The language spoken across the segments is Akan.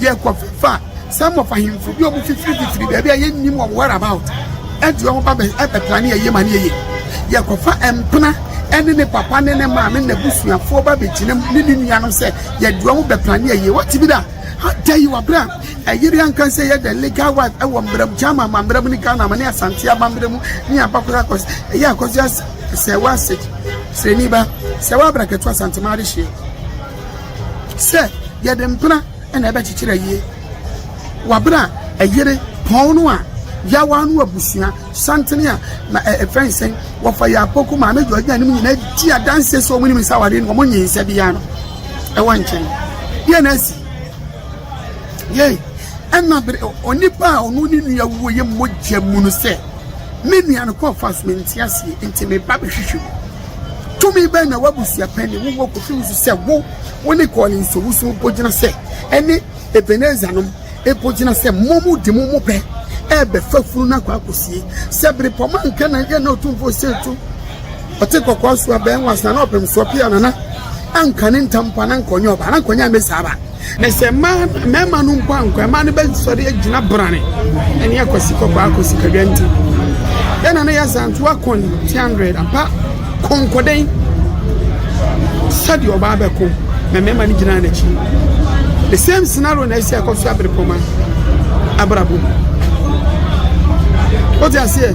Yɛkɔ fa some of ahemfo bi a wɔn fifiri fifiri baabi a yɛnnim wɔn where about ɛde wɔn ba ɛbɛtra ne yɛyɛ ma ne yɛyɛ yɛkɔ fa mpena ɛne ne papa ne ne maame ne n'abusuafoɔ ba bɛgyina mu ne ne nuanom sɛ yɛde wɔn bɛpra ne yɛyɛ wɔte bi da da yi wɔabrɛ a ɛyere anka sɛ yɛ the legal wife ɛwɔ mmerɛ mu gyama ma mmerɛ mu ne ghana ma ne asante aba mmerɛ mu ne abakora akɔs ɛyɛ akɔsua sɛ wɔasɛ srɛni ba sɛ wɔabra kɛto asante ma ade hyeɛ Sɛ yɛde mpena na ɛbɛkyekyere ayie wɔ bere a ɛyere pɔn no a, yawa no abusua santene a na ɛfɛn e, sɛn wɔfa yɛ apoko maame dɔ nya ne mu nyinaa di adanse sɛ wɔn nim nsa awadeɛ no wɔn nyɛ nsa biara no ɛwɔ nkyɛn yɛ na asi yɛ ɛna bere onipa a ɔno ne nua wuo yɛ mogya mu no sɛ me nua no kɔfa so mente aseɛ nti me ba bɛhwehwɛ mu Tumi bɛn na w'abusuapɛn ne wo wɔ kofi wo so sɛ wo, wo ne Collins Owusu bɔ gyina sɛ ɛne Ebenezer nom bɔ gyina sɛ mo mo de mo mo pɛ ɛrebɛfa funu no akɔ akɔsie? Sɛ bere pɔma nka na yɛ na ɔtumfoɔ sɛ tu ɔte kɔkɔɔ so abɛn wɔ asana ɔpem soɔ pia nana ankane ntampa na nkɔnyɛ ɔba na nkɔnyɛ ame saa ba. Na sɛ mmaa mmarima no mpo ankɔ mmaa no bɛsɔre agyina brane ɛne akwasi kɔkɔɔ akwasi kadwa nti yɛn nana yɛ zanto akɔn ti hundred ampa kɔnkɔdɛn sɛdeɛ ɔbaa bɛko na mmarima no gyina n'akyi the same scenario na ɛsi akɔ so abere pɔma abrabɔ mu wote aseɛ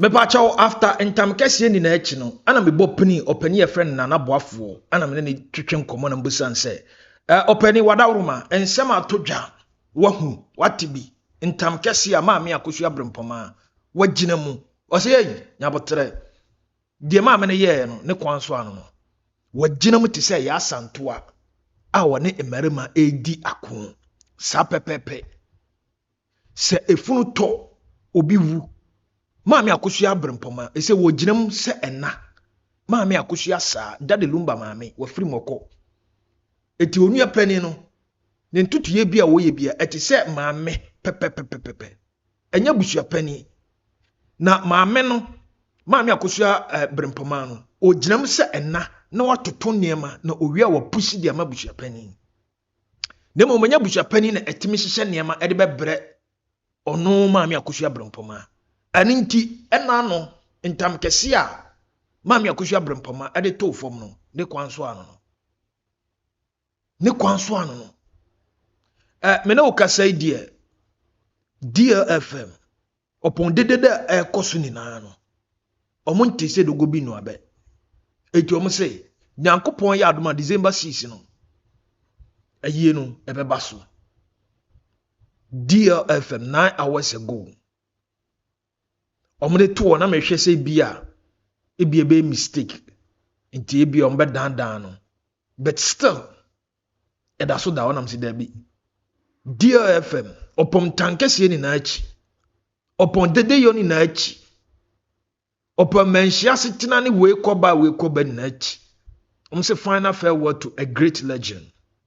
mepakyɛw after ntam kɛseɛ nyinaa akyi no ana mebɔ pini ɔpani yɛfrɛ no nana boafoɔ ana mene ne twetwe nkɔmmɔ na mbusan sɛ ɔpani wadaworoma nsɛm ato dwa wahu wate bi ntam kɛseɛ a maame akosua brempɔmaa wagyina mu ɔsɛ yɛyi nyabotrɛ Deɛ maame no yɛɛ no ne kwan so ano no, wagyina mu te sɛ Yaa Santoa a wɔne mmarima redi ako. Saa pɛpɛɛpɛ. Sɛ efunu tɔ, obi wu. Maame Akosua Abrempɔma, ɛsɛ wɔgyina mu sɛ ɛna. Maame Akosua saa, Dade Lumba maame, wafiri mu ɔkɔ. Eti onua panin no, ne ntotoyɛ bi a wɔyɛ bi a, ɛte sɛ maame pɛpɛpɛpɛpɛ. ɛnyɛ busuapanin na maame no maame akosua eh, berempɔmaa no ɔgyinam sɛ ɛna na watoto nneɛma na owia wɔ pusi de ama busuapanin na mmom ɛnyɛ busuapanin na ɛtumi hyehyɛ nneɛma ɛde bɛbrɛ ɔno maame akosua berempɔmaa ɛno nti ɛna no ntam kɛse a maame akosua berempɔmaa ɛde too fam no ne kwan so ano no ne kwan so ano no eh, me ne wo kasa yi deɛ DLFM ɔpɔn dedede a ɛrekɔ so nyinaa no ɔmo nte sɛ dogo bi no abɛ eti ɔmo sɛ nyankopɔn yɛ adoma December six no ayie no ɛbɛba so DLFM nine hours ago Wɔn de to hɔ na mehwɛ sɛ ebi a ebi ɛbɛyɛ mistake nti ebi a wɔn bɛ dan dan no but still ɛda so da hɔ nam si dɛbi dlfm ɔpɔn tankɛseɛ nyinaa akyi ɔpɔn dedeyɔ nyinaa akyi ɔpɔn mmanhyia asetena ne wei kɔba wei kɔba nyinaa akyi wɔn sɛ final farewell to a great legend.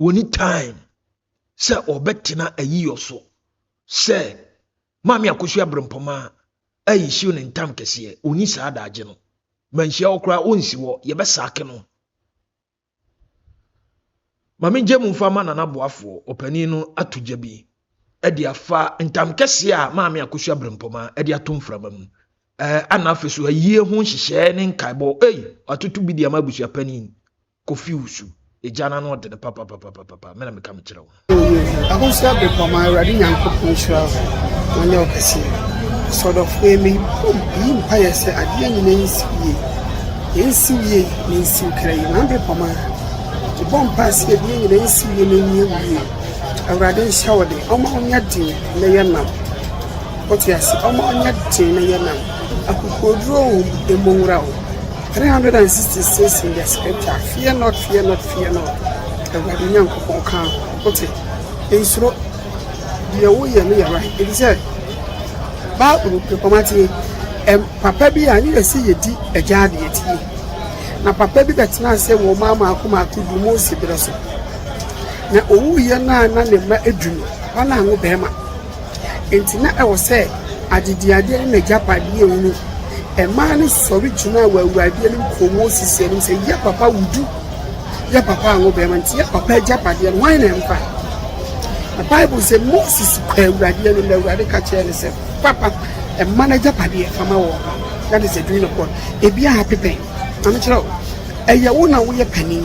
wɔni time sɛ wɔbɛtena ayiyɔ so sɛ maame akosu abrempɔma ayi hyew ne ntam kɛseɛ ɔni saa daagye no manhyia wɔ koraa ɔnsi hɔ yɛbɛsaake no ma megye mu mfa ma nana boafoɔ ɔpanin no ato gya bi ɛde afa ntam kɛseɛ a maame akosu abrempɔma ɛde ato mframa mu ɛɛ ana afei so ayie ho nhyehyɛɛ ne nkaebɔ ei ɔatoto bi de ama abusuapanin Kofi Wusu, Egya no ano ɔde no papapapapapa, me na meka mekyerɛ wo. O Yehu, ahosuo bere pɔ ma Awurade Nyankopɔn nhyira wo na ɔnyɛ wo kɛseɛ. Sɔdɔfoɔ yi, me bom yi mpaeɛ sɛ adeɛ nyina nsiw yie, yɛ nsiw yie na nsiw kra yi, na bere pɔ ma me bɔ mpaeɛ sɛ adeɛ nyina nsiw yie na nyɛ wo yie. Awurade nhyɛ wo de, ɔma wo nyɛ den na yɛ nam. Wote ase, ɔma wo nyɛ den na yɛ nam. Akokoɔduro o, ɛmmɔ nwura o. Three hundred and sixty six in the scripture fear not fear not fear not awurade nyankopɔn ka ho wote nsuro deɛ woyɛ no yɛ right ɛti sɛ bible pekɔmateɛ papa bi a ne yɛ sɛ yɛdi agya adeɛ tie na papa bi bɛtena ase wɔ ɔma maako maako du mu osi berɛ so na owuiɛ no a na ne mma edu no ɔna ano bɛrima Enti na ɛwɔ sɛ adediadeɛ ne n'agyapadeɛ a ɛwunu. Mmaa no sɔre gyinaa wɔ Awurade anim kɔɔ Moses anim sɛ, Yɛ papa wo du, yɛ papa anwo barima, enti yɛ papa agyapadeɛ no, hwan na ɛmfa? Na Bible sɛ, Moses kɔɔ Awurade anim, na Awurade ka kyerɛɛ no sɛ, Papa, mma no agyapadeɛ fa ma wɔn. That is the doing of God. Ebi ahape pɛn. Maame kyerɛ wo, ɛyɛ wo na woyɛ panin.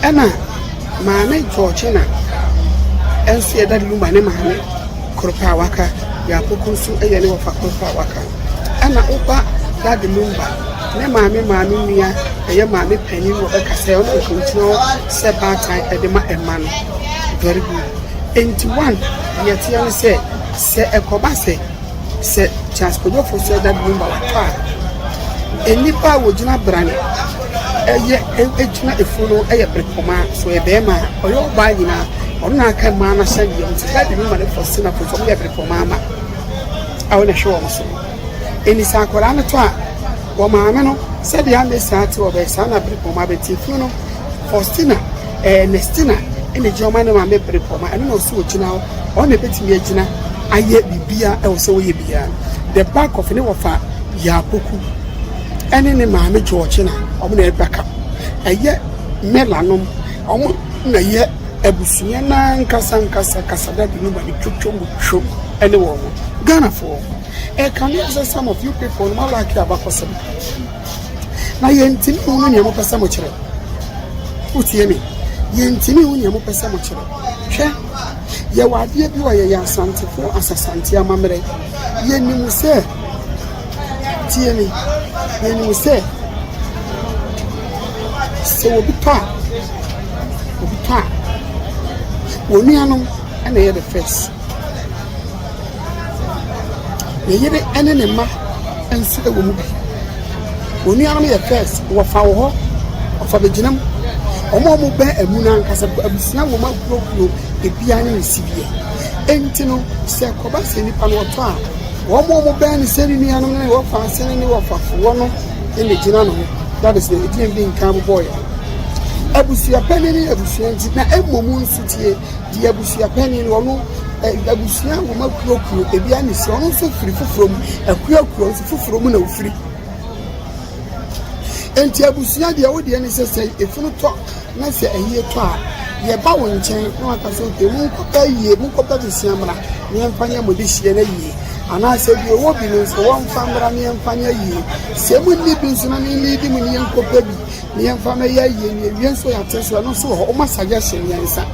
Ɛna Maame Georgina nso yɛ Daddy Luma ne maame koro pɛ a waka, deɛ Apoko nso yɛ ne wɔfa koro pɛ a waka. Ɛna wo ba Daddy Lumba ne maame maame nua ɛyɛ maame panin wɔ bɛka sɛ ɔno nka ɔgyina hɔ sɛ baatan ɛde ma ɛma no. Very good. Ɛnti one, deɛ ɛteɛ ne sɛ, sɛ ɛkɔba sɛ. Sɛ Charles Kwadwofo sɛ da bi woma watɔ a, nnipa a wɔgyina brane ɛyɛ ɛgyina afuo no ɛyɛ brepɔma so ɛyɛ bɛrima a ɔyɛ ɔbaa nyinaa ɔno na aka mmaa no ahyɛ deɛ nti da bi woma no fɔ sena fo so ɔyɛ brepɔma ama a wɔn ɛhwɛ wɔn so ɛni sɛ akwadaa no tɔ a wɔn maame no sɛdeɛ amɛ saa te ɔbɛyɛ saa na brepɔma bɛti funu no Faustina, Ernestina na egyina hɔ ma ne maame bere pɔ ma ɛno na ɔsɛ ogyina hɔ ɔno na ebetumi agyina ayɛ biribiara ɛwɔ sɛ wɔyɛ biara the back of ne wɔfa yaapoku ɛne ne maame georgina wɔn na ɛba ka ɛyɛ mela nom wɔn na yɛ abusua n'ankasa nkasa kasadade no ma ne twotwo mu twom ɛne wɔn ghanafoɔ ɛka ne sɛ some of you people no malaki abakɔsɛm na yɛntumi nhunu nea mopɛ sɛ mokyerɛ wotie me yɛntumi hu nea mopɛ sɛ mokyerɛ hwɛ yɛwɔ adeɛ bi wɔ yɛyɛ asantefo asasante amammerɛ yɛnim sɛ tie me yɛnim sɛ sɛ obi pa a obi pa a wɔnuanom na ɛyɛ the first Ne yere ne ne mma nso wɔ mu bi. Wɔn nuanom yɛ first, wɔfa wɔ hɔ, wɔfa bɛgyina mu. Wɔn a wɔbɛn amu no ankasa abusua wɔn akuokuo, ebiara ne ne sideɛ. Enti no, sɛ kɔba sɛ nipa no ɔtɔ a, wɔn a wɔbɛn no sɛ ne nuanom ne wɔfa ase ne wɔfafoɔ no na gyina no ho. That is the ɛdin bi nka bobɔeɛ. Abusua panin ne abusua nti na mmom nso tie. Deɛ abusua panin no ɔno abusua nwoma kuro kuro ebi ani si ɔno nso firi foforɔ mu akuo akuo nso foforɔ mu na ofiri nti abusua deɛ wo deɛ ne sɛ sɛ efunu tɔ na sɛ ayie tɔ a yɛba wo nkyɛn na waka sɛ oke mu nkɔpɛ yie mu nkɔpɛ besia mmra ne yɛmfa nyɛ mo de hyia no yie anaasɛ bi ɔwɔ bi no nso wɔmfa mmra ne yɛmfa nyɛ yie sɛ mu nni bi nso na ne nni di mu ne yɛnkɔpɛ bi ne yɛmfa mmɛyɛ ayie no yɛwie nso yɛate nso ɛno nso wɔ hɔ wɔma suggestion mmiɛnsa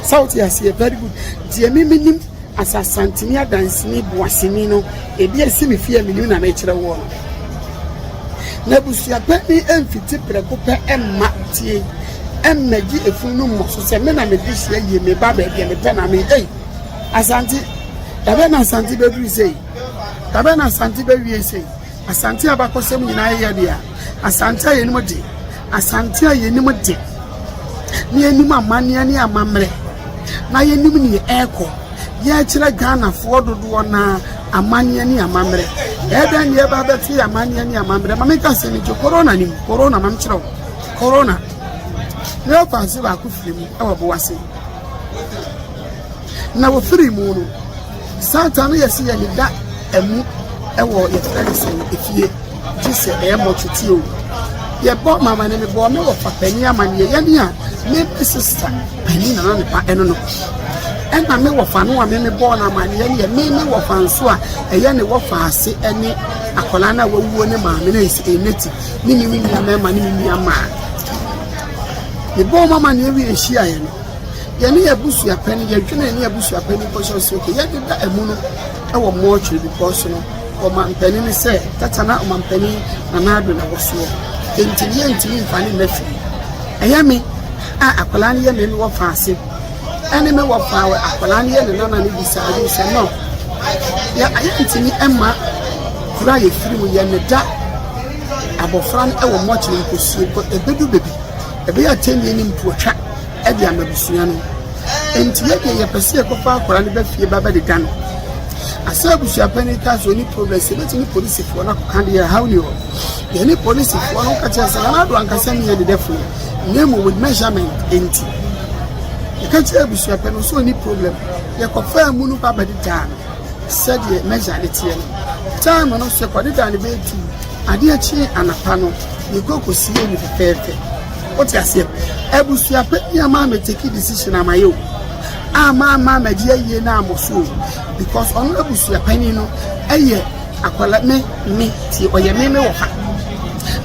sɛ wote aseɛ very good deɛ me menim asasantini adansini boasini no ebi asi me fie menim na mekyerɛ woɔ no na abusuapɛ ne ɛmfiti prɛko pɛ ɛmma tie ɛmmɛgye efunu no mmɔ so sɛ me na mede hyia yie me ba baabi a mepɛ na me ei asante dabɛ na asante bɛduru sei dabɛ na asante bɛwie sei Asante abakɔsɛm nyinaa yɛ dea. Asante a yɛnim de. Asante a yɛnim de. Na yɛnim amanneɛ ne amammerɛ. Na yɛnim nea ɛrekɔ. Yɛrekyerɛ Ghanafoɔ dodoɔ no ara amanneɛ ne amammerɛ. Ɛyɛ dɛn na yɛba abɛto yɛ amanneɛ ne amammerɛ? Ma menka asɛm yi nkyerɛ korona no mu. Korona, ma menkyerɛ wo. Korona. Na yɛfa ase baako firi mu wɔ Boase. Na wɔfiri mu no, Satan no yɛ se yɛ ne da ɛmu ɛwɔ yɛ fɛ ne sɛ efie gye sɛ ɛyɛ mɔ tete o yɛ bɔ mama ne ne bɔ ne wɔ papa ni ama ne yɛ ni a ne bi sista pani nana ne pa ɛno no ɛna me wɔ fa no a me me bɔ na ama ne yɛ ne yɛ me ne wɔ fa nso a ɛyɛ ne wɔ fa ase ɛne akwadaa no a wawuo ne maame no ɛsi ɛnɛti ne ne me nua mɛma ne me nua maa ne bɔ mama ne yɛ wi ehyia yɛ no. Yɛne yɛn abusua panyin, yɛdwene yɛne yɛn abusua panyin kɔ sɛ okay, yɛdeda amu no wɔ mortuary because no ɔmampanin no sɛ tata na ɔmampanin Nana Addo na wɔ soɔ nti no yɛntumi mfa ne nna firi ɛyɛ me a akwadaa no yɛ me wɔ fa ase ɛne me wɔ fa akwadaa no yɛ ne nana no bisa ade sɛ no yɛ yɛntumi ɛma kura yɛ firi mu yɛ ne da abɔfra no wɔ mortuary nkɔsie ɛbɛdu baabi ɛbɛyɛ atɛnnie ne mpuotwa de ama abusua no. Enti yɛ deɛ yɛpɛ sɛ yɛkɔfa akwadaa no ba fie ba bɛdeda no. Asɛ abusua panin ka so ne progress yɛbɛtumi polisifoɔ no akɔka deɛ ɛhaw ni hɔ. Yɛne polisifoɔ no ka kyerɛ sɛ nana ado ankasa ne yɛ dedɛfoɔ na mmom with measurement enti. Yɛka kyerɛ abusua pɛ no so ni problem yɛkɔfaa mu no ba bɛdedaa no sɛdeɛ measure ne teɛ no. Time no so yɛkɔdedaa no bɛyɛ tu adeɛ kye anapa no yɛkɔ kɔsie mu fɛfɛɛfɛ. Wote aseɛ? Abusua pa bi ama me take decision ama yɛ o, ama ama ama di ayie na amɔ so o, because ɔno abusua panin no ɛyɛ akwala me me ti ɔyɛ me me wɔfa.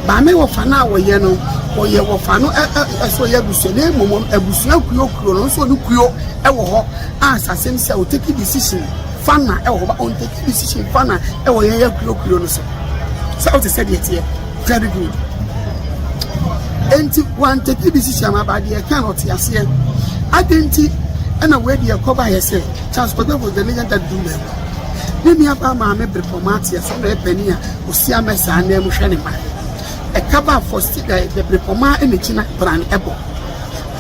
Ba me wɔfa no a ɔyɛ no, ɔyɛ wɔfa no ɛ ɛ ɛsɛ ɔyɛ abusua na mmom abusua kuo kuo no nso ɔno kuo ɛwɔ hɔ a sasɛm sɛ o take decision fa na ɛwɔ hɔ ba ɔn take decision fa na ɛwɔ yɛn yɛ kuo kuo no so. Sɛ wote sɛ deɛ teɛ. very good enti wantete decision aba deɛ ɛka na ɔte aseɛ ade nti ɛna wei deɛ ɛkɔba yɛ sɛ charles kwadwafo the legend that do well ne nua baa maame bere pɔ maa teɛ sɛ na ɛpɛni a osi amɛ saa na ɛmu hwɛ ne ma ɛka baa fɔ si dɛ the bere pɔ maa ɛna gyina bran ɛbɔ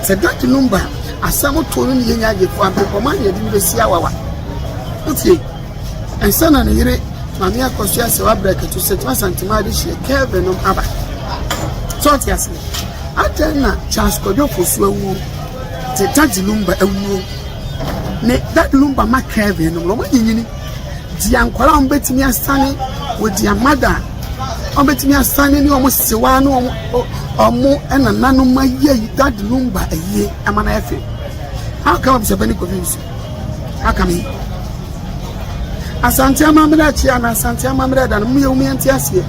sɛ that number asɛm to no ne yɛnya agye fo abere pɔ maa na yɛde no bɛsi awawa wotie Ansa na ne yere, Maame Akosua Sewabra Katu, Setena Asantuma Adehyeɛ, Kelvin nom aba. So ɔte ase? Adɛn na Charles Kwadwo Fosu awuo, te Daddy Lumba awuo, ne Daddy Lumba ma Kelvin nom, na wɔn anyinyini, di ankɔla a wɔbɛtumi asane wɔ di amada a wɔbɛtumi asane ne wɔn sewa ne wɔn wɔn ɛnananom ayɛ Daddy Lumba ayie ɛma no ayɛ fɛ. How come Abusapɛni Kofi Nsu? aka me yi asante amammerɛ akyi a na asante amammerɛ da no mu yɛ mu yɛnte aseɛ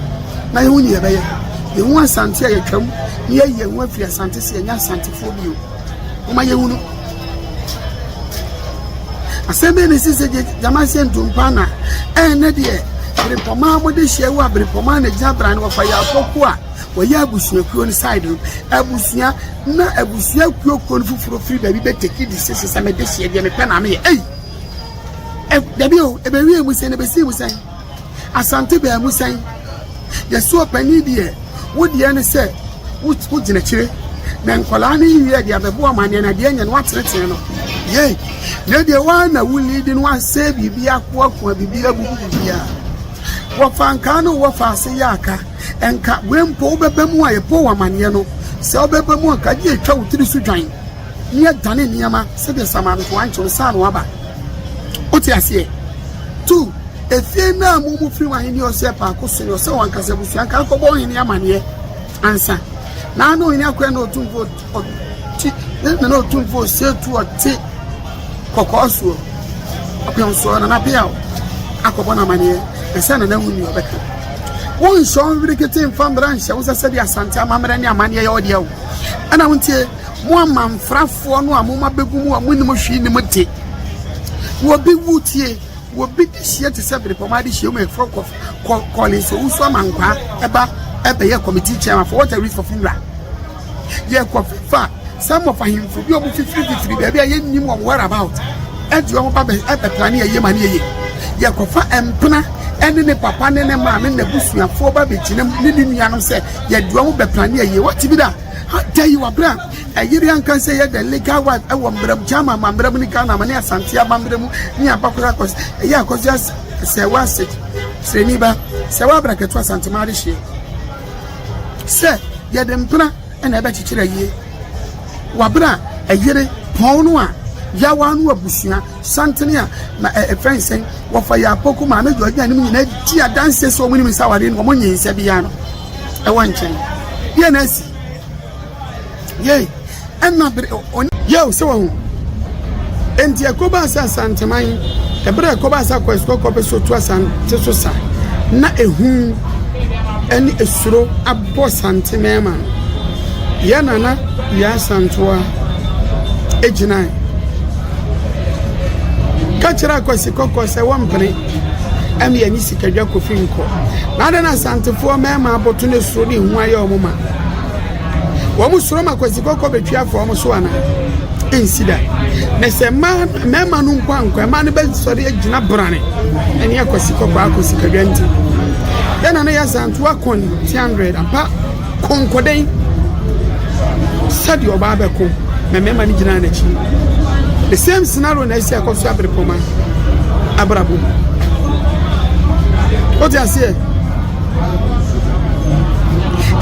na yɛhu ne yɛbɛyɛ yɛhu asante a yɛtwam ne yɛyi yɛn ho afiri asante sɛ yɛnyɛ asantefoɔ bio woma yɛhu no asɛm bɛɛ ne si sɛ gyama sɛ ntompa na ɛnɛ deɛ berepɔmaa mode hyia wo a berepɔmaa na gyina bra no wɔfa yɛ afɔkuo a wɔyɛ abusuakuo no side no abusua na abusua kuo kuo no foforɔ firi baabi bɛ teki di sese sɛ mede hyeɛ deɛ mepɛ na meyɛ ei dabi o ɛbɛwie mu sɛn ɛbɛsii mu sɛn asante baa mu sɛn yɛso ɔpani deɛ wo deɛ ne sɛ wogyina akyire na nkwadaa no yiwie deɛ abɛboa ma deɛ na deɛ nyɛ no watenetene no yei na deɛ wɔn na wuli de no asɛ biribi akoakoa biribi abubu biribi a wɔfa nkaa no wɔfa ase yɛ aka Nka wei mpo wobɛba mu a yɛbɔ wo amanneɛ no, sɛ wobɛba mu a nka agye atwa wo tiri so dwan ne adane nneɛma sɛdeɛ samano to ankye no saa na waba. Wote aseɛ? Tu efie no a mo mu firi w'ahenni ɔsɛ paako so ne ɔsɛ wɔn ankasa abusua nka akɔbɔ ɔhene amanneɛ ansa. Naa na ɔhene akɔyɛ na ɔtumfoɔ Ɔte Nana Otumfoɔ Osietu ɔte kɔkɔɔ soɔ ɔpem soɔ Nana Biaw akɔbɔ no amaneɛ na sɛ Nana wu nni ɔbɛka wonhyɛ wo nwerikete mfa mmara nhyɛ wo sɛ sɛdeɛ asante amammerɛ ne amanneɛ yɛ wo deɛ wo ɛna wontie mo amanfrafoɔ no a moma bɛgu mu a monim hwee nim de wɔbi wu tie wɔbi de hyia te sɛ berepɔma de hyia mu ɛfrɛ kɔle nso wo so amankwaa ɛba ɛbɛyɛ committee chairman for what a reason for funeral yɛkɔfa some of ahemfo bi a wɔn fifiri fifiri baabi a yɛnnim wɔn where about ɛde wɔn ba bɛ ɛbɛtra ne yɛyɛ ma ne yɛyɛ yɛkɔfa mpena ɛne ne papa ne ne maame ne n'abusuafoɔ ba bɛgyina mu ne ne nuanom sɛ yɛde wɔn bɛtra ne yɛyɛ wɔte bi da tell you abira ɛyere anka sɛ yɛ the legal wife ɛwɔ mbrɛ mu gyama ma mbrɛ mu ne ghana ma ne asante aba mbrɛ mu ne abakora akɔs ɛyɛ akɔs sɛ wɔase srɛni ba sɛ wɔabra kɛto asante ma ade hyeɛ Sɛ yɛde mpena na ɛbɛkyekyere ayie wɔ abere a ɛyere pɔn no a, Yawa no abusua santene a na ɛfɛn e, sɛn wɔfa yɛ Apoku Maame George na anim nyinaa di adanse sɛ wɔn nim nsawade no wɔn nyɛ nsa biara no ɛwɔ nkyɛn. Deɛ na asi. Yei, ɛna bere o, o. Yeo, sɛ wahu. Enti ɛkɔbaa sɛ Asanteman, ɛberɛ a ɛkɔbaa sɛ akɔ asukɔ kɔpɛ so tu Asante so sa, na ehu ɛne esuro abɔ Sante mɛɛma no. Yɛ Nana Yaa Asantewa egyinae. Ka kyerɛ akwasi kɔkɔ sɛ wɔmpene ɛne yɛne sikadwa kofi nkɔ. Na adɛn na Asantefoɔ mɛɛma abɔto ne suro ne ehu ayɛ wɔn ma? wɔn soro ma kwasi kɔkɔ bɛtwi afɔ wɔn so anaa ɛnsi da na sɛ mmaa mmarima no nkɔ ankɔ mmaa no bɛsɔre agyina brane ɛne akwasi kɔkɔ akɔ sikadwa nti yɛn na no yɛ asantoa kɔn 300 apa kɔnkɔdɛn sɛdeɛ ɔbaa bɛko na mmarima no gyinaa n'akyi the same scenario na ɛsi akɔ so aberepɔma abrabɔ wote aseɛ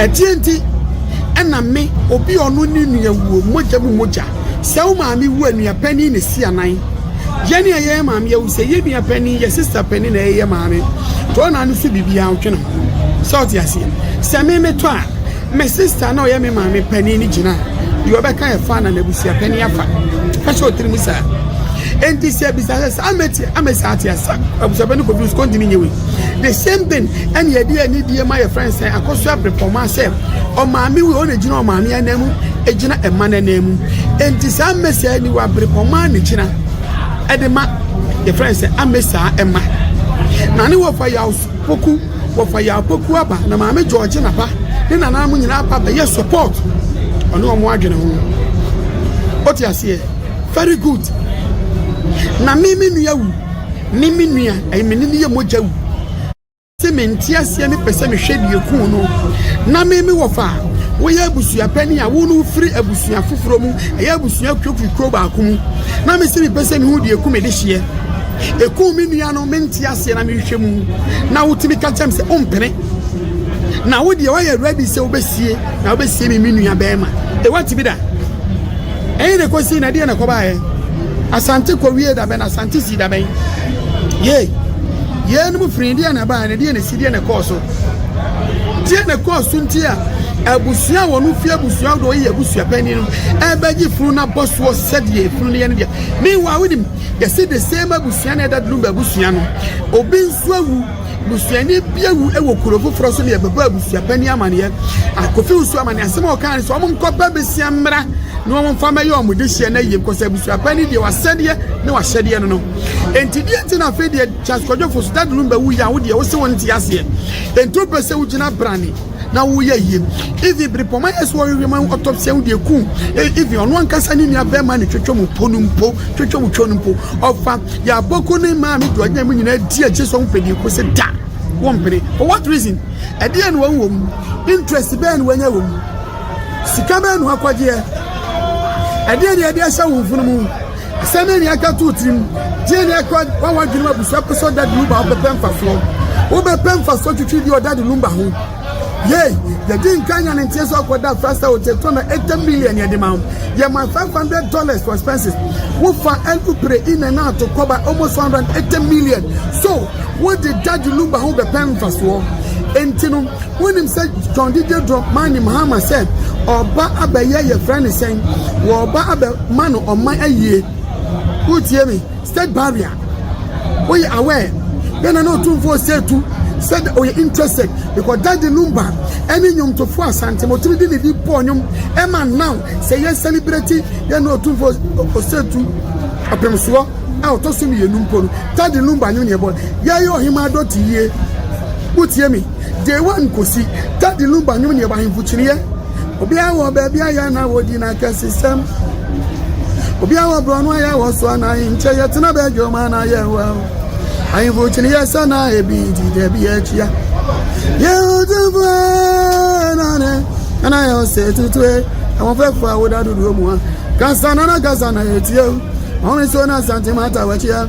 ɛdeɛ nti ɛna me obi a ɔno ne nua wuo mogya mu mogya sɛ wo maame wu a nua panin ne si anan yɛn a yɛyɛ maame awu sɛ yɛ nua panin yɛ sista panin na yɛyɛ maame to ɔna no so biribiara ɔtwe ne ho sɛ ɔte aseɛ sɛ me metɔ a me sista na ɔyɛ me maame panin ne gyina deɛ ɔbɛka yɛ fa na n'abusua panin afa ɛhyɛ ɔtiri mu saa ɛnti sɛ bisa sɛ saa mɛti amɛsi ate asa abusua panin kɔduru sukuu ntumi nyɛ wei The same thing ɛne yɛde anidie ma yɛfrɛ no sɛ akɔso abrepɔma sɛ ɔmaame wei ɔna gyina ɔmaame anan mu gyina ɛma no anan mu enti saa mmɛsi a ni wɔ abrepɔma ne gyina ɛde ma yɛfrɛ no sɛ amesaa ɛma na ne wɔfa yaw poku wɔfa yaw poku aba na maame gyɔɔgye na ba ne nananom nyinaa aba bɛyɛ support ɔne wɔn adwene ho ɔte aseɛ very good na me me nua wu ne me nua a me ne no yɛ mogya wu. Ɔse me nte aseɛ ne pɛ sɛ mehwɛ deɛ kuu no na me me wɔfa a woyɛ abusua panin a wo ne wofiri abusua foforɔ mu ɛyɛ abusua kurokuo kuro baako mu na me se mepɛ sɛ mehu deɛ ku me de hyeɛ ɛku me nua no mente aseɛ na mehwɛ mu na wotumi ka kyɛm sɛ wompene na wo deɛ woayɛ ready sɛ wobɛsie na wobɛsie me me nua bɛrima ɛwa tibi da ɛyɛ na ɛkɔsii na deɛ na ɛkɔbaeɛ asante kɔwie da bɛn asante sii da bɛn ye yeinom firi deɛ na ɛbaeɛ na deɛ na ɛsi deɛ na ɛkɔɔ so deɛ na ɛkɔɔ so nti a abusua wɔn no fi abusua do yɛ abusua panyin no ɛbɛgye funu na bɔ soɔ sɛdeɛ efunu no yɛ no deɛ meanwhile wonim yɛsi the same abusua na ɛda dum abusua no obi nso awu Busuani bi awu wɔ kuro foforɔ so ne ɛbɛbɔ abusuapanin amaneɛ. Akofi nso amaneɛ asɛm a ɔkaa ne sɛ wɔn nkɔba bɛsia mmra na wɔn mfa mɛyɛ wɔn dehyeɛ na yie because abusuapanin deɛ wasɛdeɛ ne wahyɛdeɛ no no. Enti deɛ nti na afei deɛ Charles Kwadwofo so dadulum bɛwu yɛ a wo deɛ wo se wo nte aseɛ. Enti wopɛ sɛ wogyina brane. na woyɛ yie even bere pɔn ayɛ so ɔyɛ ma autopsy ho deɛ kun e, even ɔno ankasa ne nua bɛrima ne twetwe mu po no mpo twetwe mu twɛ no mpo ɔfa yɛ abɔko ne maa mi deɛ ɔnyɛ mu nyinaa di akyi so ɔmfɛ deɛ kɔsi da wɔn mpene for what reason ɛdeɛ na wɔn wɔ mu interest bɛɛ na wɔanya wɔ mu sika bɛɛ na wɔakɔgyeɛ ɛdeɛ na yɛde ahyɛ wɔn funu mu. Sɛ ne nea atwa to wo tirim, gye nea ɛkɔ wa w'adwene mu abusua pɛ sɛ ɔdade lumba a wobɛpɛ mfasoɔ. Wobɛpɛ mfasoɔ twitwi deɛ ɔdade lumba ho. Yei, yɛdi nkan nya ne nteɛ sɛ ɔkɔda afra sɛ wokyɛ tɔ na ɛtɛ million yɛde ma wo. Yɛma 500 dollars for expenses. Wofa ɛlu pere in and out kɔba almost 180 million. So, wode dade lumba ho bɛpɛ mfasoɔ. Enti no, wonim sɛ John Didier Drogba nim Hamer sɛ ɔba abɛyɛ yɛfrɛ ne sɛn? Wɔba abɛ. Ma no ɔman ayie wo tie me state barrier wo yɛ aware bɛ na na otumfoɔ sɛ tu sɛ dɛ oyɛ interested because daddy lumba ɛne nnwomtofoɔ asante ma otumi de ne di bɔɔ nnwom ɛma now sɛ yɛ celebrity yɛ na otumfoɔ ɔsɛ tu apemsoɔ a ɔtɔ so mmienu mpo no daddy lumba nnwom ne ɛbɔ yɛyɛ ɔhema adɔte yie wo tie me Day one kosi da de lumba nnwom ne w'ahemfo kyiniiɛ. Obiara wɔ baabi a yɛn na wɔdi n'akɛsesɛm. Obiara wɔ borɔno a yɛwɔ so a na ahenkyɛ yɛ tena bɛdwom a na yɛwɔ o. Ahemfo kyiniiɛ sɛ na ebi di da bi akyia. Yɛn otumfo ee na ne nana yɛ ɔsɛ tutu ee. Ahoɔfɛfo a woda dodoɔ mu a kasa na na kasa na yɛtie o. Ɔhene so na santema atawakyia.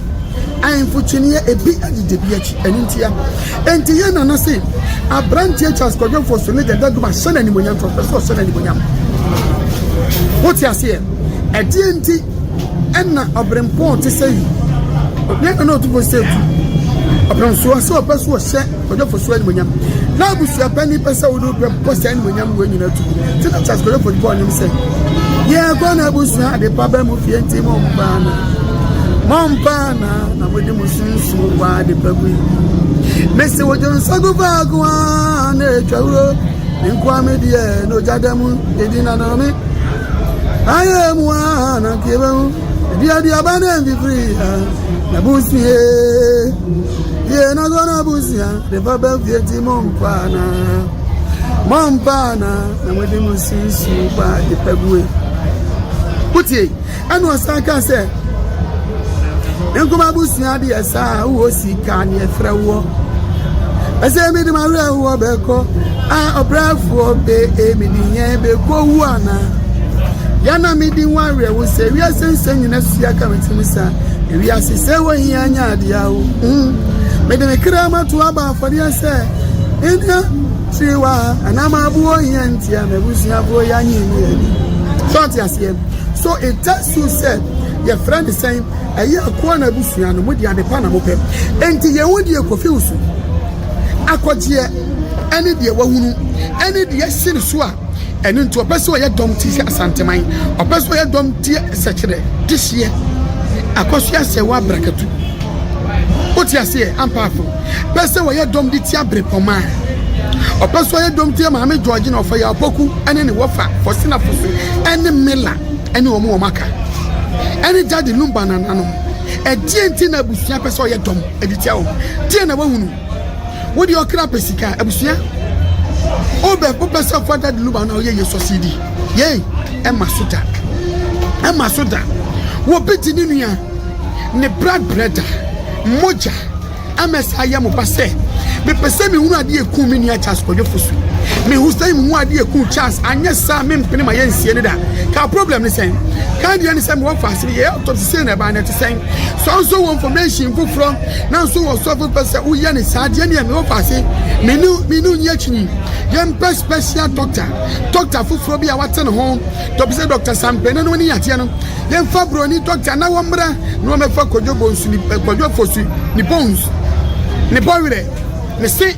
Ahemfo kyiniiɛ ebi adi dabi akyi, ɛno ntia. Enti yɛn nana se, aberanteɛ Charles Kwadwo Mfoso ne Dada Duma hyɛ no animuonyam, nti ɔpɛ sɛ ɔhyɛ no animuonyam. Wote aseɛ? Ɛdeɛ nti ɛna ɔberempɔn te sɛ yi? Yɛn nana ɔtumfoɔ sɛ tu ɔberempɔn sɛ ɔpɛ sɛ ɔhyɛ Kwadwofo so animonyam. Na abusua panyin pɛ sɛ wode wopɛ bɔ saa animonyam wɔ nyina tu. Nti na Charles Kwadwofo de bɔɔ nnwom sɛ, yɛkɔ na abusua ade pa bɛ mu fie nti mo mpaa na mo mpaa na na mode mo sunsuo bɔ ade pa mu yi. Mese wodwo nsago faako a na ɛtwa wuro nkoa me deɛ na ogya da mu ɛdi na na me ayɛ mu a na nkeɛ bɛ mu aduaduaba na mfifiri na busuee Yie na sọ na busia de ba bɛ fie ti mo mpaana mo mpaana na mo de mo sisi ba de pɛ bue kutie ɛna ɔsan ka sɛ nkoma busia de ɛsa a wowɔ sika ne ɛfrɛ woɔ ɛsɛ mi de ma werɛ woɔ bɛkɔ a ɔbrɛfoɔ bɛ emi de nyɛn bɛkɔ wu ana yana mi di nwa werɛ wo sɛ wiase nsɛm nyina sua ka me ti mu saa Ewiase sɛ wo hia nya ade a o mm, mede me kra mato aba afɔdeɛ sɛ ɛnya kyiri wa anaa maabo wo hia ntia m'abusuafoɔ yɛ anyi ni ani sɛ ɔte aseɛ so ɛta su sɛ yɛfrɛ ne sɛn ɛyɛ akoa na abusua no mode ade pa na mopɛ enti yɛn ho deɛ kɔfiw so akɔgyeɛ ɛne deɛ wahunu ɛne deɛ hyene so a Ɛno nti ɔpɛ sɛ ɔyɛ dɔm ti sɛ Asanteman, ɔpɛ sɛ ɔyɛ dɔm ti sɛkyerɛ, dehyeɛ, akwaso asɛewa abrakatu. Wote aseɛ ampaafo? Pɛ sɛ ɔyɛ dɔm de tia berepɔma a ɔpɛ sɛ ɔyɛ dɔm tia Maame George na ɔfa yɛ apoku ne ne wɔfa Fɔsina Fose ne Mela ne wɔn wɔn aka ɛne Gyade Lumba nananom. Ɛdeɛ nti na abusua pɛ sɛ ɔyɛ dɔm de tia wɔn? Deɛ na wahunu? Wo deɛ ɔkra pɛ sika abusua wobɛ wopɛ sɛ ɔfa dad luba na ɔyɛ yɛ sɔsidi yei ɛma so da ɛma so da wɔbi gye ne nua ne brad brɛda mogya ɛmɛ saa yɛ mo ba sɛ mepɛ sɛ mehunu adeɛ ɛku me nua charles kɔdwofo so mehu sɛ mehu adeɛ ɛku charles anyɛ saa mempene ma yɛnsie no da ka problem ne sɛn ka deɛ ne sɛ mewɔ faase no yɛyɛ autopsy sei na ɛbaa no ɛte sɛn sɔnso wɔ information foforɔ Nanso ɔsɔfo pɛ sɛ woyɛ no saa deɛ neɛ mewɔ faase mene mene onyi akyinyi yɛmpɛ special doctor doctor foforɔ bi a wate ne ho dɔbi sɛ doctor sampene no ne yadeɛ no yɛmfa broni doctor na wɔmmra na wɔmɛfa kwadwo bonsu ne kwadwo fosu ne bones ne bɔwerɛ ne se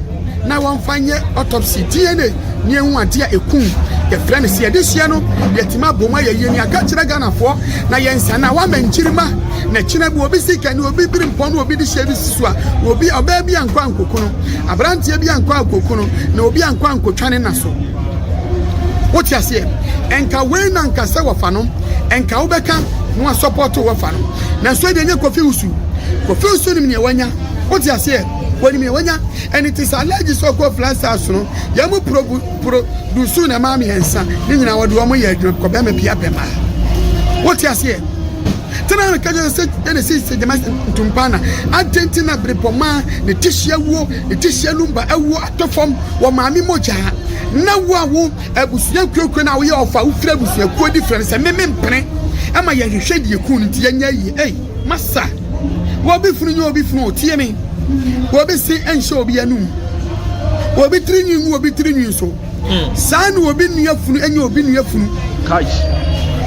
na wɔmfa nyɛ autopsy, DNA, ne ehu ade a ekum. Yɛfrɛ no sɛ yɛde hyia no, yɛatumi abɔ mu ayɛ yie ne aka kyerɛ Ghanafoɔ na yɛn nsa no a wɔama nkyirimma na ɛkyena bi obi sika ne obi biri mpɔ no obi de hyɛ bi si so a obi ɔbaa bi ankɔ ankoku no aberanteɛ bi ankɔ ankoku no na obi ankɔ ankotwa ne na so wote aseɛ ɛnka wei na nka sɛ wɔfa no ɛnka wobɛka na wasɔpɔto wɔfa no nanso ɛdeɛ nyɛ kofi wusu kofi wusu nim neɛ wanya wote aseɛ Wɔnim nea wɔanya. Ɛno nti sɛ allergies a ɔkɔɔ plant cells no, yɛn mu produce na ɛmaa mmiɛnsa. Ne nyinaa wɔde wɔn yɛ adwuma kɔ bɛrima bi abɛma. Wote aseɛ? Tena no kɛkyɛ sɛ yɛn esi sɛ gyama ntumpa na adɛn ti na berepɔmaa ne tisi awuo, ne tisi anumba awuo atɔ fam wɔ maame mogya na wo a wo abusua kuokuro na woyɛ ɔfa wofiri abusuakuo different sɛ meme mpene ɛma yɛhwehwɛ deɛ kun no nti yɛnyɛ yie. Masa, obi funu nye obi funu otie me. Obi se nhyɛ obi anum. Obi tiri nwi ngu obi tiri nwi so. Hmm. Saa na obi nua funu enye obi nua funu.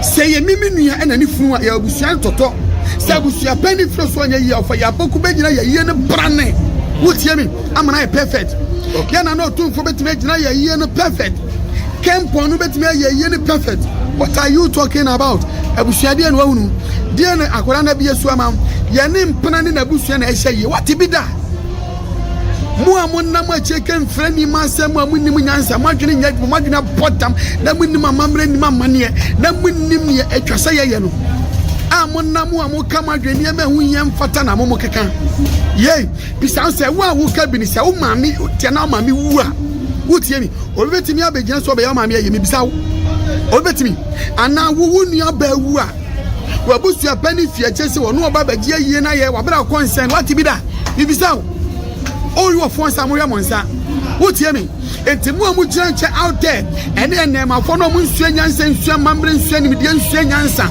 Sɛ yɛ ne me nua ɛna ne funu a yɛ abusua ntɔtɔ. Sɛ abusua pɛn ne firi so ɔnyɛ yie ɔfa yɛ apoku bɛgyina yɛ yie ne brane. Wotie me amana yɛ perfect. Yɛ na na ɔtumfo bɛtumi agyina yɛ yie no perfect. Ken pɔn no bɛtumi ayɛ ayie ne perfect what are you talking about abusua deɛ na wahunu deɛ na akwadaa no abie so ama yɛ ne mpena ne n'abusua na ɛhyɛ yie wate bi da mo a monam akyire ka mfrɛ nneɛma asɛm mu a monim nyansa moadwene nyɛ adwuma moadwene abɔ dam na monim amammerɛ nim amanneɛ na monim neɛ atwa sɛ yɛyɛ no a monam a moka mo adwene nneɛma ɛho hia mfata na mo mo keka yei Bisa no sɛ, Wo a woka bi no, sɛ wo maame teɛ na wo maame wu a, wutie no? Obi betumi abegyina so abɛyɛ wo maame ayi? Mibisa wo. Obi betumi? Anaa wo wo nuabaa wu a, w'abusua pɛ ne fie gye sɛ ɔno ɔba abɛgye ayie no ayɛ w'abrɛkɔ nsɛn? Woate bi da? Mibisa wo. Ɔreyi wɔ fon sɛ amohwɛ mo nsa. Wutie me? Enti mo a mugyina nkyɛn out there, ɛne nnɛɛmafo no a munsua nyansa nsua amammerɛ nsua nimdeɛ nsua nyansa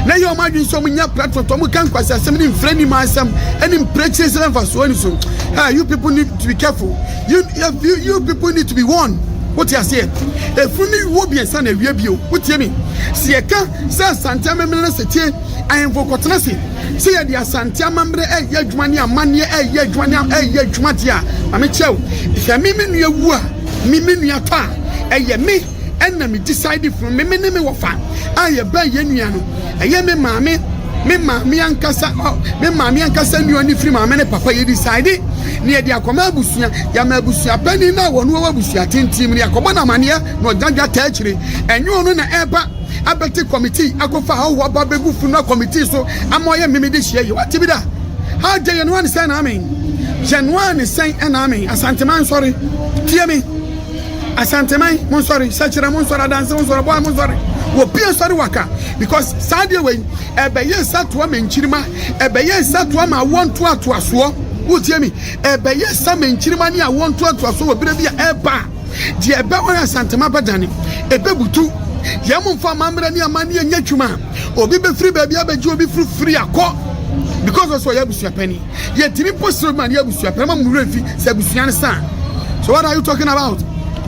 na ɛyɛ wɔn adwene sɛ wɔnya platform to wɔka nkwaseasɛm ne mfiri anim asɛm ne mprɛkyire sɛ mfasoɔ ani so ah you people need to be careful you, you, you people need to be warned wote aseɛ ɛfunu ne wuo biɛnsa na awia bio wotie me sɛ yɛka sɛ asante amemene no sɛ tie ahemfo kɔtena se Sɛ yɛde Asante amammerɛ reyɛ adwuma ne amanneɛ reyɛ adwuma ne reyɛ adwuma deɛ a, ma me kyerɛ wo, sɛ me me nua wu a, me me nua tɔ a, ɛyɛ me ɛna me decide funu. Me me ne me wɔfa a yɛbɛn yɛn nua no, ɛyɛ me maame, me maame ankasa, me maame ankasa nua ne firi maame ne papa. Yɛ decide ne yɛde akɔma abusua, yɛama abusua panin no a wɔn wɔ abusua tenten mu ne yɛakɔbɔ no amanneɛ na ɔgyadwa taa akyire. Ɛnyɛ ɔno na ɛba. abɛte kɔmitii akɔfa ahɔho aba abɛgu funu a kɔmitii so ama ɔyɛ mmeme de hyia yi. Wate bi da? Agya Yɛnoa ne sɛn na amen. Yɛnoa ne sɛn na amen. Asanteman nsɔre. Tie me. Asanteman mo nsɔre. Sɛkyerɛ mo nsɔre. Adanse mo nsɔre. Bɔa mo nsɔre. Wɔpie nsɔre waka. Because saa deɛ wei ɛbɛyɛ nsatoa ma nkyirima. Ɛbɛyɛ nsatoa ma awoɔ ntoatoasoɔ. Wotie me. Ɛbɛyɛ sa ma nkyirima ne awoɔ ntoatoasoɔ wɔ berɛ bi a ɛba a. Deɛ ɛbɛwɔ yɛ asantem abɛdane, ɛbɛbutu. Yɛn mu nfa amammerɛ ne amanneɛ nyɛ adwuma. Obi bɛfiri baabi abɛgye obi firi firi akɔ because ɔsɛ ɔyɛ abusua panin. Yɛtumi mpo sere obi ma ne yɛ abusua pɛ na ma mo werɛ mfi sɛ abusua no sa. So what are you talking about?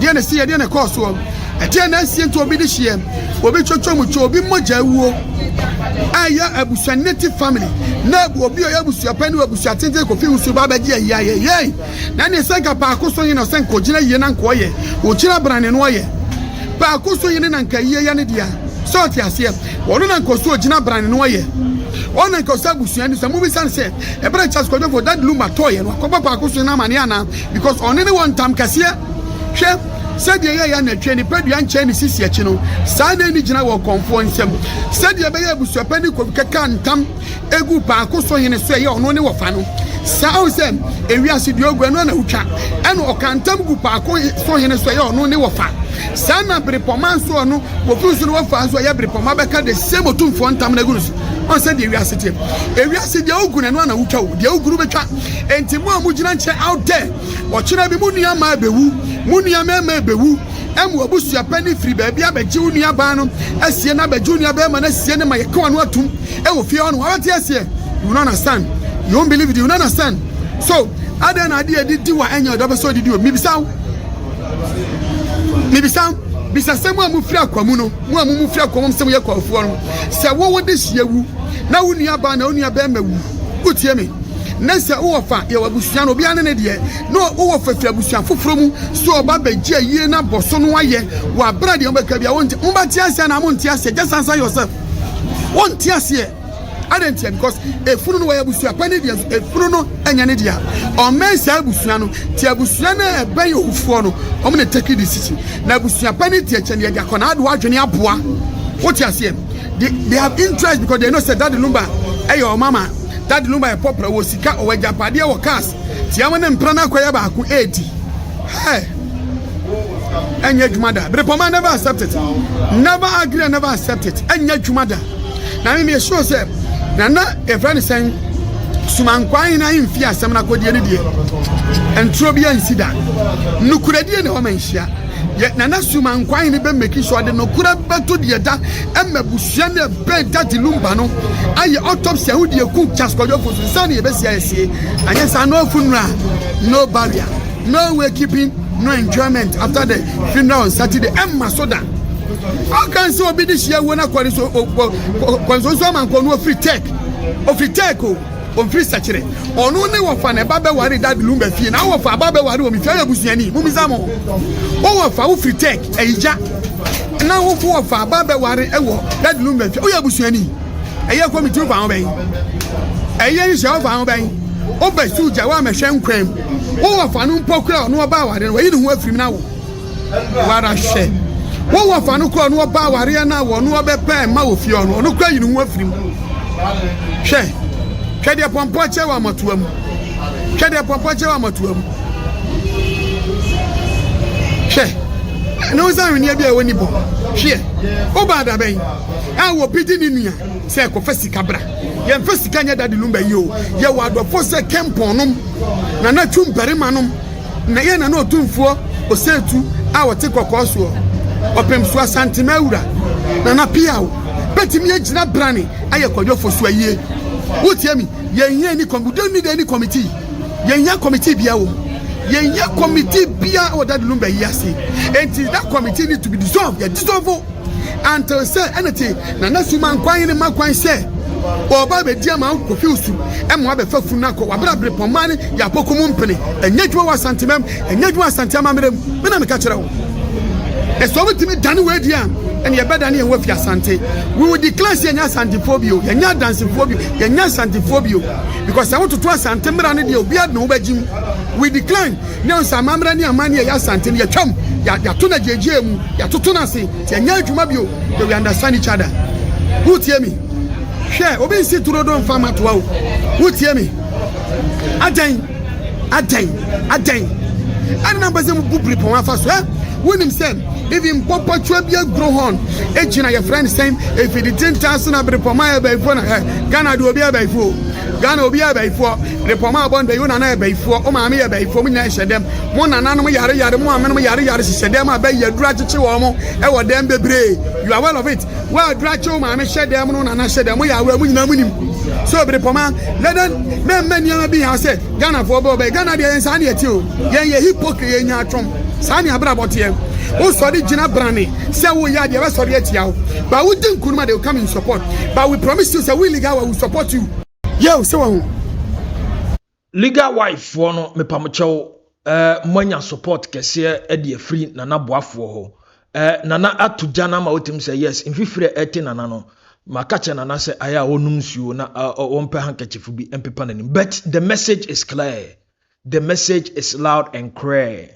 Deɛ na ɛsi yɛ, deɛ na ɛkɔɔ soɔ. Ɛdeɛ na ɛsi nti obi de hyeɛ, obi twotwo mu kyɛ, obi mogya awuo. Ɛyɛ abusua native family na obi ɔyɛ abusua pɛ ne abusua tenten kɔfi wusu ba bɛgye ayɛ ayɛ yɛi. Na ne sɛnka paako so yene ɔsɛnka ogyina yie na nka ɔyɛ ogyina brane no ɔyɛ paako so yene na nka yie yɛ ne dea sɛ ɔte aseɛ ɔno na nka ɔso ogyina brane no ɔyɛ ɔno na nka ɔsɛ abusua ni sɛ mobisa no sɛ ɛberɛ Charles Kwadwofo dad lumba tɔɔyɛ no akɔbɔ paako so yene amaneɛ anaa because ɔne ne wɔ ntam kɛseɛ hwɛ sɛdeɛ ɛyɛ yɛ anatwie nipa dua nkyɛn ne sisi akyi no saa na ɛni gyina wɔ kɔnfoɔ nsam sɛdeɛ ɛbɛyɛ abusuapɛ ne kɔbi kɛka ntam egu baako so hene so ɛyɛ ɔno ne wɔfa no saa ahu sɛ ewiase deɛ ogu ɛno na wotwa ɛna ɔka ntam gu baako so hene so ɛyɛ ɔno ne wɔfa saa na berepɔma nso ɔno wɔkuru so ne wɔfa nso ɛyɛ berepɔma bɛka de sɛ motumfoɔ ntam no agu no so ɔn sɛ deɛ ewiase teɛ ewiase deɛ ogu no ɛno na wotwa o deɛ oguru bɛtwa enti mo a mogyina nkyɛn out there ɔkyena bi mo nua maa bɛwu mo nua mɛma bɛwu ɛmu abusua pɛ ne firi baabi abɛgye wo nua baa no asie na abɛgye wo nua bɛrima no asie ne ma yɛka wɔn atum Ɛwɔ fie hɔ no wara te aseɛ you won't understand you won't believe it you won't understand so adɛn na adeɛ ɛde di wa ɛnyɛ ɔdɔ bɛ sɛ ɔde di o mibisa wo mibisa wo bisa sɛ mu a mu firi akwa mu no mu a mu mu firi akwa mu sɛ mu yɛ kwafoɔ no sɛ wo wo de hyia wu na wo nua baa na wo nua bɛrima wu wotie me ne sɛ wowɔ fa yɛwɔ abusua no obiara ne ne deɛ na wowɔ fa firi abusua foforɔ mu so ɔba bɛgye ayie no abɔ so no ayɛ wɔ aberɛ deɛ wobɛka bia wonte mobɛte aseɛ na monte aseɛ just answer yourself wɔnte aseɛ adɛn ntia because efunu no wɔyɛ abusua pɛ ne deɛ nso efunu no ɛnyɛ ne deɛ ɔmmɛn saa abusua no ti abusua no a ɛbɛn owufoɔ no wɔn na take decision na abusua pɛ ne deɛ kyɛn deɛ de akɔnaa de wadwene aboa wote aseɛ they they have interest because they know sɛ dade lumba ɛyɛ wɔn ama dade lumba yɛ pɔpra wɔ sika ɔwɔ agyapadeɛ wɔ cars tiama ne mpena no akɔyɛ baako ɛɛdi hɛɛ. ɛnyɛ adwuma da berepɔma never accept it never agree and never accept it ɛnyɛ adwuma da na me meyɛ sure sɛ nana ɛfrɛ ne sɛn sumankwan hena mfi asɛm no akɔdeɛ no deɛ ɛntoro bi ansi da nokorɛdie ne hɔ ma nhyia nana suma nkwan ne bɛmɛki so ɔde nokora bɛto deɛ da ɛma busua no ɛbɛn dade lumba no ayɛ autopsy aho deɛ ku kyaskɔdwɔfo so nsa ne yɛbɛsia yɛsie anyɛ saa no afu nnura no barrier No way keeping no enjoyment after the funeral on Saturday. Ɛmma so da. Ɔka sɛ obi de hyia wuo no akɔre so kɔnsonso amankɔ no ofiri tech. Ofiri tech o. Ofiri sɛkyerɛ. Ɔno ne wɔfa na ɛba bɛware dad lumba fie. Na wɔfa aba bɛware wɔ me fie ayɛ busuani. Mumisa mo. Wɔfa wofiri tech ayigya. Na wofo wɔfa aba bɛware wɔ dad lumba fie. Woyɛ busuani. Ɛyɛ kɔmiti wofa ho bɛn. Ɛyɛ nhyɛ wofa ho bɛn. Wobɛ sugya wo amɛhwɛ nkwam. wo wɔfa no mpo kura ɔno ɔba awareɛ no wayi ne ho afiri mu no awo wara hwɛ wo wɔfa no kura ɔno ɔba awareɛ no a wɔno ɔbɛpɛ ma wɔ fie ɔno ɔno kura yi ne ho afiri mu hwɛ hwɛ deɛ pɔmpɔ kyɛ wɔ amatoa mu hwɛ deɛ pɔmpɔ kyɛ wɔ amatoa mu hwɛ ne wo sɛ ahweneɛ bi a ɛwɔ ni bɔ hweɛ woba adabɛn a wɔpigye ne nua Sɛ kɔfa sika bra. Yɛnfa sika nyɛ daddy lumba yi oo. Yɛwɔ adɔfoɔ sɛ Kempon nom, Nana Twum barima nom, na yɛn Nana Otumfoɔ Osetu a ɔte Kɔkɔɔ soɔ, Ɔpemsoɔ Asantema wura, Nana Piaw, bɛtumi agyina brane ayɛ Kwadwo Fosuo ayie. Wotie me? Yɛnhia any com, we don't need any committee. Yɛnhia committee biara wɔ mu. Yɛnhia committee biara wɔ daddy lumba yi ase. Enti that committee need to be dissolved. Yɛ dissolve o. Antew sɛ ɛna te na na sum ankwan ne ma kwan sɛ ɔba abɛdi ama wo kofiw su ɛma wabɛfa funu no akɔ wabra bere pɔmma ne yɛapɔko mu mpene ɛnyɛ adwuma wɔ asantemam ɛnyɛ adwuma asante amammerɛ mu me na meka kyerɛ wo na sɛ wobɛtumi dane woadi a ɛne yɛbɛdane yɛn wafi asante we will declare sɛ yɛnyɛ asantefoɔ bio yɛnyɛ adansefoɔ bio yɛnyɛ asantefoɔ bio because sɛ wototo asante mmara no deɛ obiara de ne ho bɛgyim we decline Nyansa, amammerɛ ne amanneɛ a ɛyɛ Asante no, yɛatwam, yɛato no agyeegyee mu, yɛatoto no ase, nti ɛnyɛ adwuma bio, but we understand each other. Wotie me? Hwɛ, obi nsi turo do mfa mmatoa o. Wotie me? Adɛn? Adɛn? Adɛn? Ɛne na mpɛ sɛ mubu biripɔn afa so ɛ? Wonim sɛ even pɔpɔtwa bi aguro hɔn egyina yɛfrɛ no sɛn efidite ntaa so na biripɔn ma yɛ bɛyifoɔ na ɛ Ghana de obi yɛ bɛyifoɔ Ghana obi yɛ bɛyifoɔ Ne pɔmma abɔ ndɛ yo nana yɛ bɛyifoɔ ɔma ame yɛ bɛyifoɔ mo nyina hyɛ dɛm mo nananom yare yare mo amenom yare yare hyehyɛ dɛm a bɛyi aduru akyekye wɔ mo ɛwɔ dɛm bebree you are well of it wo aduru akye wo maame hyɛ dɛm no nana hyɛ dɛm mo yɛ aware mo nyina mo nim so bere pɔmma lɛdɛn mɛ mma nneɛma bi ha sɛ Ghana foɔ bɛwɔ bɛyɛ Ghana deɛ yɛn saa ne ɛte o yɛn yɛ hypocrite yɛn nya atwom saa ne abrabɔ teɛ wo sɔre gyina brane sɛ wo yɛ adeɛ bɛsɔre atia wo ba wo di nkunuma they will come in support but we promise you sɛ wo illegal we will support you yɛ o sɛ wahu legal wife foɔ no mepamokyɛw eh, moanya support kɛseɛ eh, de afiri nana boafoɔ hɔ eh, nana ato gya no ama wotumi sɛ yes mfifire ɛte nana no maka kyɛ nana sɛ ayɛ a wɔnom nsuo na wɔmpɛ eh, handkerchief bi mpepa n'anim but the message is clear the message is loud and clear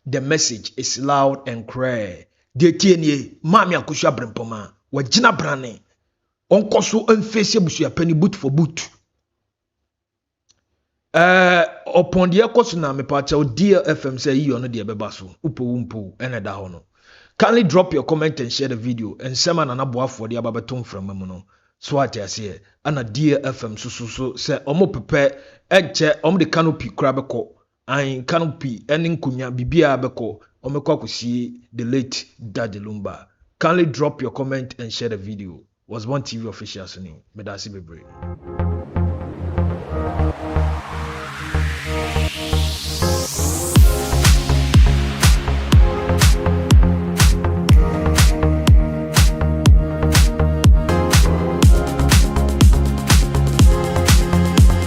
the message is loud and clear deɛ tie nie maame akosua brempɔma wagyina brane Ɔnkɔ so mfeesi abusua panyin boot for boot. Ɛɛ ɔpɔn deɛ ɛkɔ so na mepaakyɛw DLFM sɛ yiyi ɔno deɛ ɛbɛba so. Wopɛ wo mpo ɛna ɛda hɔ no. Kindly drop your comment and share the video. Nsɛm a Nana Boafoɔ de aba bɛto mframa mu no, so ate aseɛ? Ɛna DLFM nso so so sɛ wɔpepɛ ɛnkyɛ wɔde canopy koraa bɛkɔ Ain Canopy ne Nkonya biribiara bɛkɔ wɔbɛkɔ akɔsie the late Daddy Lumba kindly drop your comment and share the video Osborn TV official so ni Medase bebree.